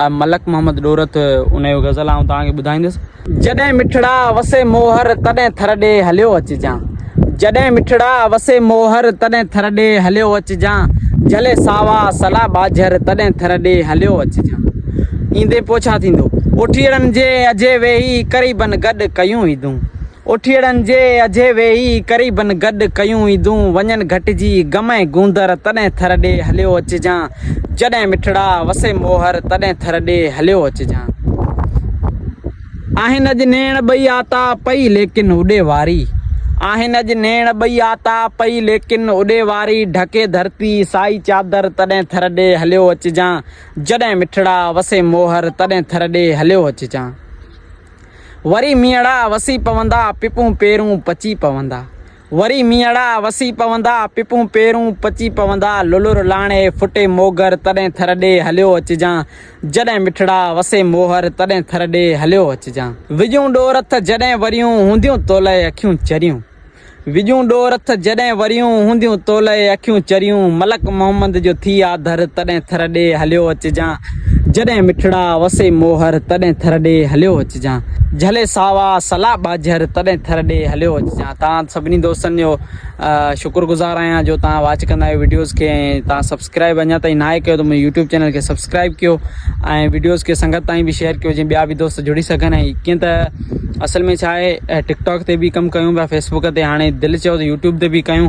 آء ملڪ محمد ڏورٿ ان جو غزل آئون توهان کي ٻڌائيندس. جڏهن مٺڙا وسي موهر تڏهن ٿر ڏي هليو اچجان جڏهن مٺڙا وسي موهر تڏهن ٿر ڏي هليو اچجان جهلي ساوا سلا ٻاجهر تڏهن ٿر ڏي هليو اچجان ايندي پوء ڇا ٿيندو اوٺيئڙن جي اجهي ويهي قريبن گڏ ڪيون عيدون. اٺيئڙن جي اجهي ويهي، قريبن گڏ ڪيون عيدون، وڃن گهٽجي، غم ۽ گوندر، تڏهن ٿر ڏي هليو اچجان، جڏهن مٺڙا، وسي موهر، تڏهن ٿر ڏي هليو اچجان. آهن اڄ نيڻ ٻئي آتا پئي، ليڪن اڏي واري. آهن اڄ نيڻ ٻئي آتا پئي، ليڪن اڏي واري، ڍڪي ڌرتي، سائي چادر، تڏهن ٿر ڏي هليو اچجان، جڏهن مٺڙا، وسي موهر، تڏهن ٿر ڏي هليو اچجان. وري مينهڙا وسي پوندا، پپون پيرون پچي پوندا. وري مينهڙا وسي پوندا، پپون پيرون پچي پوندا، للر لاڻي ڦٽي موڳر، تڏهن ٿر ڏي هليو اچجان، جڏهن مٺڙا وسي موهر، تڏهن ٿر ڏي هليو اچجان. وڄون ڏور تھ جڏهن وريون، هونديون تولئي اکيون چريون. وڄون ڏور اٿ جڏهن وريون، هونديون تولئي اکيون چريون، ملڪ محمد جو ٿي آ ڌر، تڏهن ٿر ڏي هليو اچجان، جڏهن مٺڙا وسي موهر، تڏهن ٿر ڏي هليو اچجان، جهلي ساوا سلا ٻاجهر، تڏهن ٿر ڏي هليو اچجان. توهان سڀني دوستن جو شڪر گذار آهيان جو توهان واچ ڪندا آهيو وڊيوز کي ۽ توهان سبسڪرائيب سبسڪرائب اڃا تائين ناهي ڪيو ته منهنجي يوٽيوب چينل کي سبسڪرائب ڪيو ۽ وڊيوز کي سنگت تائين به شيئر ڪيو جيئن ٻيا به دوست جڙي سگهن ۽ ڪيئن ته اصل ۾ ڇا آهي ٽڪ ٽاڪ تي به ڪم ڪيون پيا فيسبوڪ تي هاڻي دل چيو ته يوٽيوب تي به ڪيون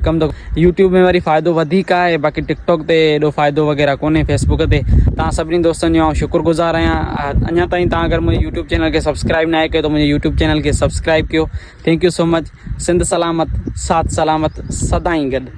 ڪم ته يوٽيوب ۾ وري فائدو وڌيڪ آهي باقي ٽڪ ٽاڪ تي ايڏو فائدو وغيره ڪونهي فيسبوڪ تي تان سبني دوستن جو شڪر گزار آهيان اڃا تائين تان اگر منهنجي يوٽيوب چينل کي سبسڪرائب ناهي ڪيو ته منهنجي يوٽيوب چينل کي سبسڪرائب ڪيو thank you so much Sindh سلامت سات سلامت سدائين گڏ